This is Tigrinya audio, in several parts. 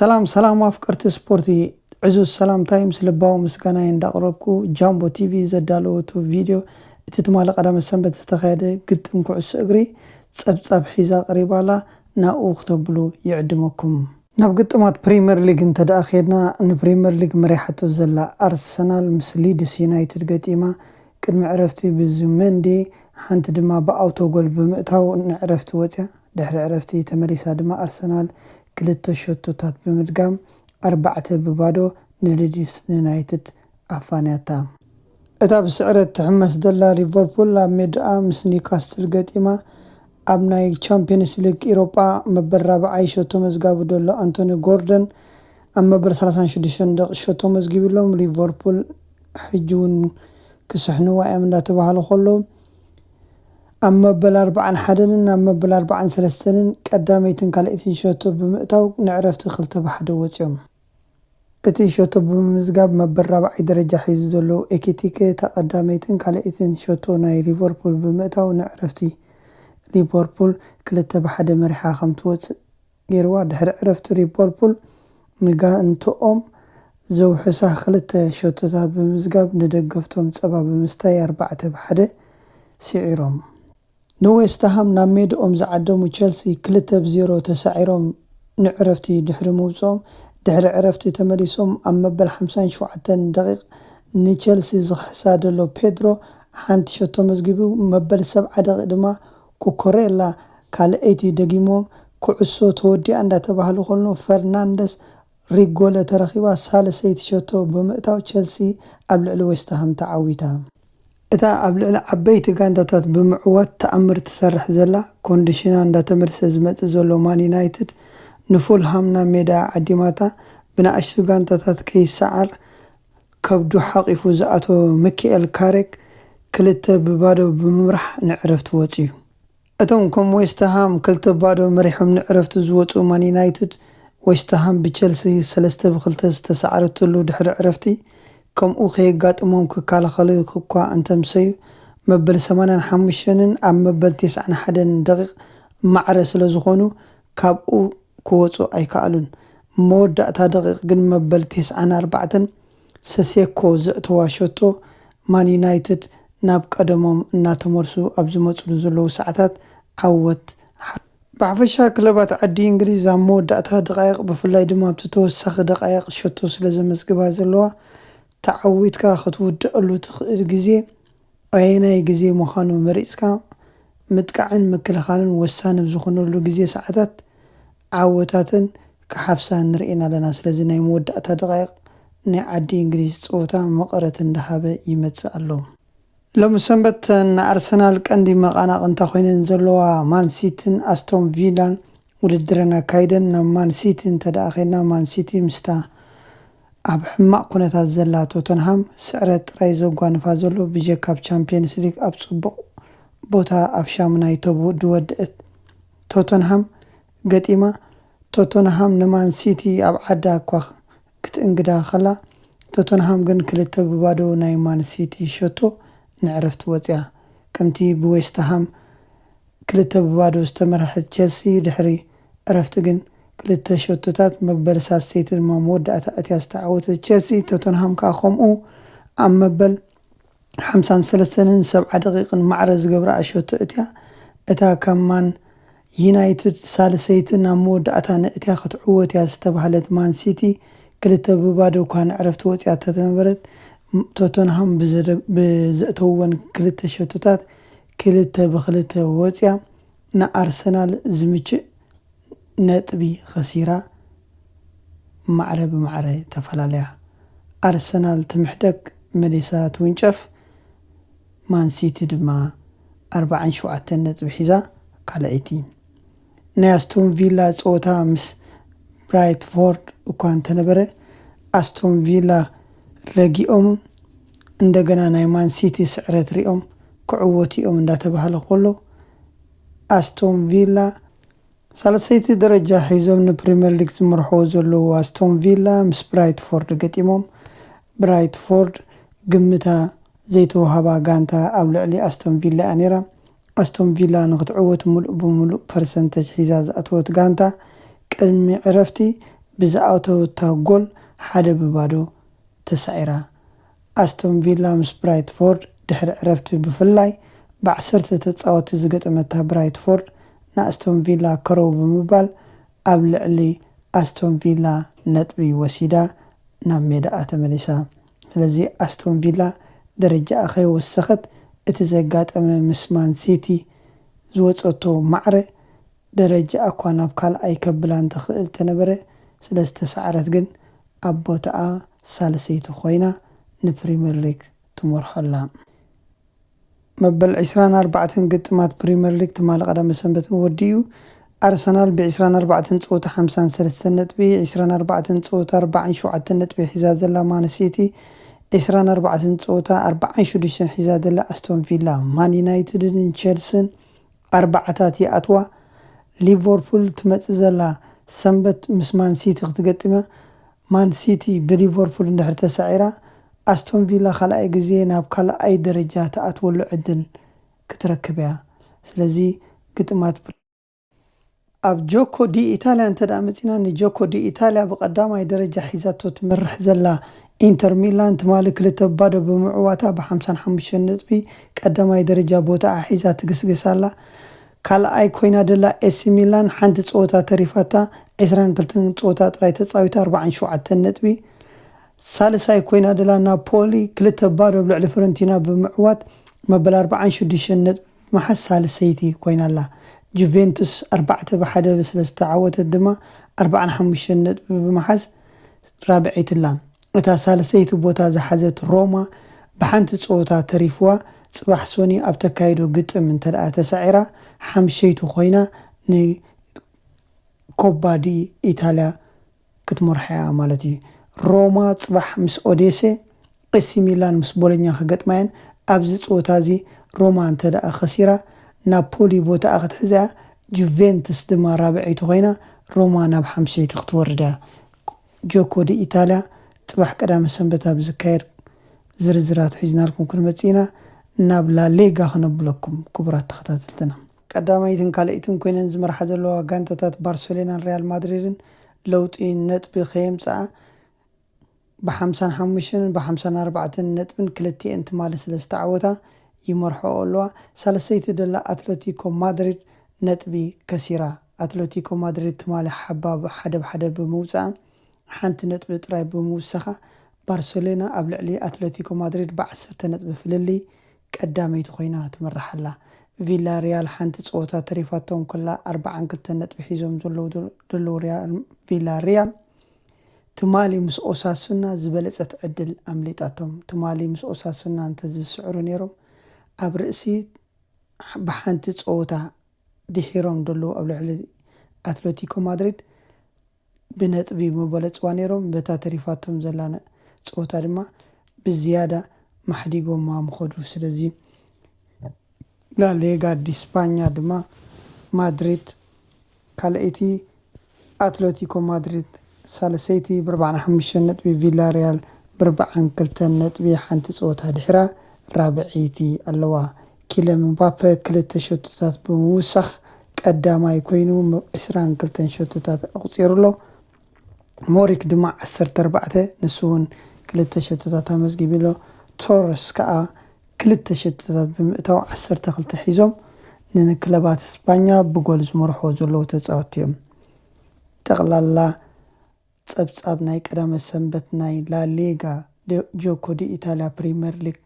ሰላም ሰላም ኣፍቀርቲ ስፖርቲ ዕዙዝ ሰላምታይ ምስ ልባዊ ምስጋናይ እንዳቕረብኩ ጃምቦ ቲቪ ዘዳለወቱ ቪድዮ እቲ ትማሊ ቀዳመ ሰንበት ዝተኻየደ ግጥም ኩዕሶ እግሪ ጸብጻብ ሒዛ ቀሪባ ኣላ ናብኡ ክተብሉ ይዕድመኩም ናብ ግጥማት ፕሪመር ሊግ እንተድኣ ኬድና ንፕሪመር ሊግ መሪሓቶ ዘላ ኣርሰናል ምስ ሊድስ ዩናይትድ ገጢማ ቅድሚ ዕረፍቲ ብዙመንዲ ሓንቲ ድማ ብኣውቶጎል ብምእታው ንዕረፍቲ ወጽያ ድሕሪ ዕረፍቲ ተመሊሳ ድማ ኣርሰናል ክልተ ሸቶታት ብምድጋም ኣርባዕተ ብ ባዶ ንሊድስ ዩናይትድ ኣፋንያታ። እታ ብስዕረት ትሕመስ ዘላ ሊቨርፑል ኣብ ሜዳኣ ምስ ኒውካስትል ገጢማ ኣብ ናይ ቻምፕዮንስ ሊግ ኢሮጳ መበል ራብዓይ ሸቶ መዝጋቢ ዘሎ ኣንቶኒ ጎርደን ኣብ መበል ሰላሳን ሽዱሽተን ደቒ ሸቶ መዝጊብሎም ሊቨርፑል ሕጂውን ክስሕንዋ እዮም እንዳተባህሉ ከለዉ ኣብ መበል ኣርብዓን ሓደንን ናብ መበል ኣርብዓን ሰለስተንን ቀዳመይትን ካልኣይትን ሸቶ ብምእታው ንዕረፍቲ ክልተ ብሓደ ወጺኦም እቲ ሸቶ ብምምዝጋብ መበል ራብዓይ ደረጃ ሒዙ ዘሎ ኤኪቲከ እታ ቀዳመይትን ካልኣይትን ሸቶ ናይ ሊቨርፑል ብምእታው ንዕረፍቲ ሊቨርፑል ክልተ ብ ሓደ መሪሓ ከም ትወጽእ ጌርዋ። ድሕሪ ዕረፍቲ ሊቨርፑል ንጋንትኦም ዘውሕሳ ክልተ ሸቶታት ብምምዝጋብ ንደገፍቶም ጸባ ብምስታይ ኣርባዕተ ብ ሓደ ስዒሮም። ንዌስትሃም ናብ ሜድኦም ዝዓደሙ ቸልሲ ክልተ ብ ዜሮ ተሳዒሮም ንዕረፍቲ ድሕሪ ምውጽኦም፣ ድሕሪ ዕረፍቲ ተመሊሶም ኣብ መበል ሓምሳን ሸውዓተን ደቒቕ ንቸልሲ ዝኽሕሳ ዘሎ ፔድሮ ሓንቲ ሸቶ ኣመዝጊቡ፣ መበል ሰብዓ ደቒቕ ድማ ኩኩሬላ ካልኣይቲ ደጊሞም፣ ኩዕሶ ተወዲኣ እንዳተባህለ ከሎ ፈርናንደስ ሪጎለ ተረኺባ ሳልሰይቲ ሸቶ ብምእታው ቸልሲ ኣብ ልዕሊ ዌስትሃም ተዓዊታ። እታ ኣብ ልዕሊ ዓበይቲ ጋንታታት ብምዕዋት ተኣምር ትሰርሕ ዘላ ኮንዲሽና እንዳተመልሰ ዝመጽእ ዘሎ ማን ዩናይትድ ንፉልሃም ናብ ሜዳኣ ዓዲማታ ብናኣሽቱ ጋንታታት ከይሰዓር ከብዱ ሓቂፉ ዝኣተወ ምኪኤል ካሬክ ክልተ ብ ባዶ ብምምራሕ ንዕረፍቲ ወጽዩ እቶም ከም ዌስትሃም ክልተ ባዶ መሪሖም ንዕረፍቲ ዝወጽኡ ማን ዩናይትድ፣ ዌስትሃም ብቸልሲ ሰለስተ ብ ክልተ ዝተሳዕረትሉ ድሕሪ ዕረፍቲ ከምኡ ከየጋጥሞም ክከላኸሉ እኳ እንተኣምሰዩ መበል ሰማንያን ሓሙሽተንን ኣብ መበል ተስዓን ሓደን ደቒቕ ማዕረ ስለዝኾኑ ካብኡ ክወጹ ኣይከኣሉን መወዳእታ ደቒቕ ግን መበል ተስዓን ኣርባዕተን ሰሴኮ ዘእተዋ ሸቶ ማን ዩናይትድ ናብ ቀደሞም እናተመልሱ ኣብ ዝመፅሉ ዘለዉ ሰዓታት ዓወት ሓቲታ። ብሓፈሻ ክለባት ዓዲ እንግሊዝ ኣብ መወዳእታ ደቓይቕ ብፍላይ ድማ ኣብቲ ተወሳኺ ደቓይቕ ሸቶ ስለዘመዝግባ ዘለዋ ተዓዊትካ ክትውድኣሉ ትኽእል ግዜ ኣየናይ ግዜ ምዃኑ መሪጽካ ምጥቃዕን ምክልኻልን ወሳኒ ኣብ ዝኾነሉ ግዜ ሰዓታት ዓወታተን ክሓፍሳ ንርእየን ኣለና። ስለዚ ናይ መወዳእታ ደቓይቕ ናይ ዓዲ እንግሊዝ ጸወታ መቐረት እንዳሃበ ይመጽእ ኣሎ። ሎሚ ሰንበት ንኣርሰናል ቀንዲ መቐናቕንታ ኮይነን ዘለዋ ማን ሲቲን ኣስቶን ቪላን ውድድረን ኣካይደን። ናብ ማን ሲቲ እንተድኣ ከይድና ማን ሲቲ ምስታ ኣብ ሕማቕ ኩነታት ዘላ ቶተንሃም ስዕረት ጥራይ ዘጓንፋ ዘሎ ብጀካ ኣብ ቻምፕየንስ ሊግ ኣብ ጽቡቕ ቦታ ኣብ ሻሙናይ ተብኡ ድወደእት ቶተንሃም ገጢማ ቶተንሃም ንማን ሲቲ ኣብ ዓዳ እኳ ክትእንግዳ ከላ ቶተንሃም ግን ክልተ ብባዶ ናይ ማን ሲቲ ሸቶ ንዕረፍቲ ወጽያ ከምቲ ብዌስትሃም ክልተ ብባዶ ዝተመርሐት ቸልሲ ድሕሪ ዕረፍቲ ግን ክልተ ሸቶታት መበል ሳሰይቲ ድማ መወዳእታ ኣእትያ ዝተዓወተት ቸልሲ ቶተንሃም ከኣ ከምኡ ኣብ መበል ሓምሳን ሰለስተንን ሰብዓ ደቂቅን ማዕረ ዝገብረኣ ሸቶ ኣእትያ እታ ካብ ማን ዩናይትድ ሳልሰይቲ ናብ መወዳእታ ነእትያ ክትዕወት እያ ዝተባህለት ማን ሲቲ ክልተ ብባዶ እኳ ንዕረፍቲ ወጺኣ እተተነበረት ቶተንሃም ብዘእተውወን ክልተ ሸቶታት ክልተ ብክልተ ወጽያ ንኣርሰናል ዝምችእ ነጥቢ ከሲራ ማዕረ ብማዕረ ተፈላለያ። ኣርሰናል ትምሕደግ መሊሳ ትውንጨፍ፣ ማን ሲቲ ድማ ኣርብዓን ሸውዓተን ነጥቢ ሒዛ ካልኣይቲ። ናይ ኣስቶን ቪላ ጸወታ ምስ ብራይትፎርድ እኳ እንተነበረ፣ ኣስቶን ቪላ ረጊኦም እንደገና ናይ ማን ሲቲ ስዕረት ሪኦም ክዕወቱ'ዮም እንዳተባህለ ከሎ፣ ኣስቶን ቪላ፣ ሳልሰይቲ ደረጃ ሒዞም ንፕሪመር ሊግ ዝመርሕዎ ዘለዉ ኣስቶን ቪላ ምስ ብራይትፎርድ ገጢሞም፣ ብራይትፎርድ ግምታ ዘይተዋህባ ጋንታ ኣብ ልዕሊ ኣስቶን ቪላ'ያ ኔራ፣ ኣስቶን ቪላ ንኽትዕወት ምሉእ ብምሉእ ፐርሰንተጅ ሒዛ ዝኣተወት ጋንታ፣ ቅድሚ ዕረፍቲ ብዝኣተወታ ጎል ሓደ ብ ባዶ ተሳዒራ። ኣስቶን ቪላ ምስ ብራይትፎርድ ድሕሪ ዕረፍቲ ብፍላይ ብ ዓሰርተ ተጻወትቲ ዝገጠመታ ብራይትፎርድ ንኣስቶን ቪላ ከረው ብምባል ኣብ ልዕሊ ኣስቶን ቪላ ነጥቢ ወሲዳ ናብ ሜዳኣ ተመሊሳ። ስለዚ ኣስቶን ቪላ ደረጃኣ ከይወሰኸት እቲ ዘጋጠመ ምስ ማን ሲቲ ዝወጸቶ ማዕረ ደረጃኣ'ኳ ናብ ካልኣይ ከብላን ትኽእል ተነበረ ስለዝተሳዕረት ግን ኣብ ቦታኣ ሳልሰይቲ ኮይና ንፕሪመር ሊግ ትመርሖ'ላ። መበል ዕስራን ኣርባዕተን ግጥማት ፕሪመር ሊግ ትማሊ ቀዳመ ሰንበት ን ወዲኡ። ኣርሰናል ብ ዕስራን ኣርባዕተን ጸወታ ሓምሳን ሰለስተን ነጥቢ፣ ዕስራን ኣርባዕተን ጸወታ ኣርባዓን ሸውዓተን ነጥቢ ሒዛ ዘላ ማን ሲቲ፣ ዕስራን ኣርባዕተን ጸወታ ኣርባዓን ሽዱሽተን ሒዛ ዘላ ኣስቶን ቪላ፣ ማን ዩናይትድ ን ቸልስን ኣርባዓታት ይኣትዋ። ሊቨርፑል ትመጽእ ዘላ ሰንበት ምስ ማን ሲቲ ክትገጥም እያ። ማን ሲቲ ብሊቨርፑል እንድሕር ተሳዒራ፣ ኣስቶን ቪላ ካልኣይ ግዜ ናብ ካልኣይ ደረጃ ትኣትወሉ ዕድል ክትረክብ እያ። ስለዚ ግጥማት ፕ። ኣብ ጆኮ ዲኢታልያ እንተድኣ መጺእና፣ ንጆኮ ዲኢታልያ ብቐዳማይ ደረጃ ሒዛቶ ትመርሕ ዘላ ኢንተር ሚላን፣ ትማሊ ክልተ ብ ባዶ ብምዕዋታ ብ ሓምሳን ሓሙሽተን ነጥቢ ቀዳማይ ደረጃ ቦታኣ ሒዛ ትግስግስ ኣላ። ካልኣይ ኮይና ደላ ኤሲ ሚላን ሓንቲ ጸወታ ተሪፋታ ዕስራን ክልተን ጸወታ ጥራይ ተጻዊታ ኣርባዓን ሸውዓተን ነጥቢ ሳልሳይ ኮይና ደላ ናፖሊ ክልተ ባዶ ኣብ ልዕሊ ፍረንቲና ብምዕዋት መበል ኣርባዓን ሽዱሽተን ነጥቢ ብምሓዝ ሳልሰይቲ ኮይና ኣላ ጁቬንቱስ ኣርባዕተ ብ ሓደ ስለዝተዓወተት ድማ ኣርባዓን ሓሙሽተን ነጥቢ ብምሓዝ ራብዐይቲ ላም እታ ሳልሰይቲ ቦታ ዝሓዘት ሮማ ብሓንቲ ፀወታ ተሪፍዋ ፅባሕ ሶኒ ኣብ ተካይዶ ግጥም እንተድኣ ተሳዒራ ሓምሸይቲ ኮይና ንኮባ ዲኢታልያ ክትመርሖ'ያ ማለት እዩ። ሮማ ፅባሕ ምስ ኦዴሴ ኤሲ ሚላን ምስ ቦሎኛ ክገጥማ'የን፣ ኣብዚ ጸወታ'ዚ ሮማ እንተድኣ ከሲራ ናፖሊ ቦታኣ ክትሕዝ'ያ፣ ጁቬንትስ ድማ ራብዐይቲ ኮይና ሮማ ናብ ሓምሸይቲ ክትወርድ'ያ። ጆኮ ዲኢታልያ ጽባሕ ቀዳመ ሰንበት ኣብ ዝካየድ ዝርዝራት ሒዝናልኩም ክንመጽእ ኢና፣ ናብ ላሊጋ ክነብለኩም ክቡራት ተኸታተልትና። ቀዳመይትን ካልኣይትን ኮይነን ዝመርሓ ዘለዋ ጋንታታት ባርሰሎናን ሪያል ማድሪድን ለውጢ ነጥቢ ከየምጽኣ፣ ብሓምሳን ሓሙሽተን ብሓምሳን ኣርባዕተን ነጥብን ክልቲኤን ትማሊ ስለ ዝተዓወታ ይመርሕኦ ኣለዋ። ሳልሰይቲ ደላ ኣትለቲኮ ማድሪድ ነጥቢ ከሲራ። ኣትለቲኮ ማድሪድ ትማሊ ሓባብ ሓደ ብ ሓደ ብምውጽኣ ሓንቲ ነጥቢ ጥራይ ብምውሳኻ ባርሰሎና ኣብ ልዕሊ ኣትለቲኮ ማድሪድ ብ ዓሰርተ ነጥቢ ፍልልይ ቀዳመይቲ ኮይና ትምራሕ ኣላ። ቪላ ሪያል ሓንቲ ጸወታ ተሪፋቶም ከላ ኣርብዓን ክልተን ነጥቢ ሒዞም ዘለዉ ደለዉ ሪያል ቪላ ሪያል ትማሊ ምስ ኦሳሱና ዝበለጸት ዕድል ኣምሊጣቶም። ትማሊ ምስ ኦሳሱና እንተዝስዕሩ ነይሮም ኣብ ርእሲ ብሓንቲ ጸወታ ድሒሮም ደለዉ ኣብ ልዕሊ ኣትለቲኮ ማድሪድ ብነጥቢ ምበለጽዋ ነይሮም። በታ ተሪፋቶም ዘላ ጸወታ ድማ ብዝያዳ ማሕዲጎማ ምኸዱ። ስለዚ ላ ሌጋ ዲ ስፓኛ ድማ ማድሪድ ካልኣይቲ፣ ኣትለቲኮ ማድሪድ ሳልሰይቲ ብኣርብዓን ሓሙሽተን ነጥቢ፣ ቪላርያል ብኣርብዓን ክልተን ነጥቢ ሓንቲ ፀወታ ድሒራ ራብዐይቲ ኣለዋ። ኪለን ምባፐ ክልተ ሸቶታት ብምውሳኽ ቀዳማይ ኮይኑ ዕስራን ክልተን ሸቶታት ኣቑፂሩ'ሎ። ሞሪክ ድማ ዓሰርተ ኣርባዕተ ንሱ'ውን ክልተ ሸቶታት ኣመዝጊቡ'ሎ። ቶረስ ከኣ ክልተ ሸቶታት ብምእታው ዓሰርተ ክልተ ሒዞም ንክለባት ስጳኛ ብጎል ዝመርሕዎ ዘለዉ ተጻወትቲ'ዮም። ጠቕላላ ጸብጻብ ናይ ቀዳመ ሰንበት ናይ ላ ሊጋ ጆኮ ዲኢታልያ ፕሪመር ሊግ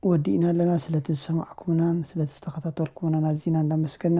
ወዲእና ኣለና። ስለቲ ዝሰማዕኩምናን ስለቲ ዝተኸታተልኩምናን ኣዚና እንዳመስገና፣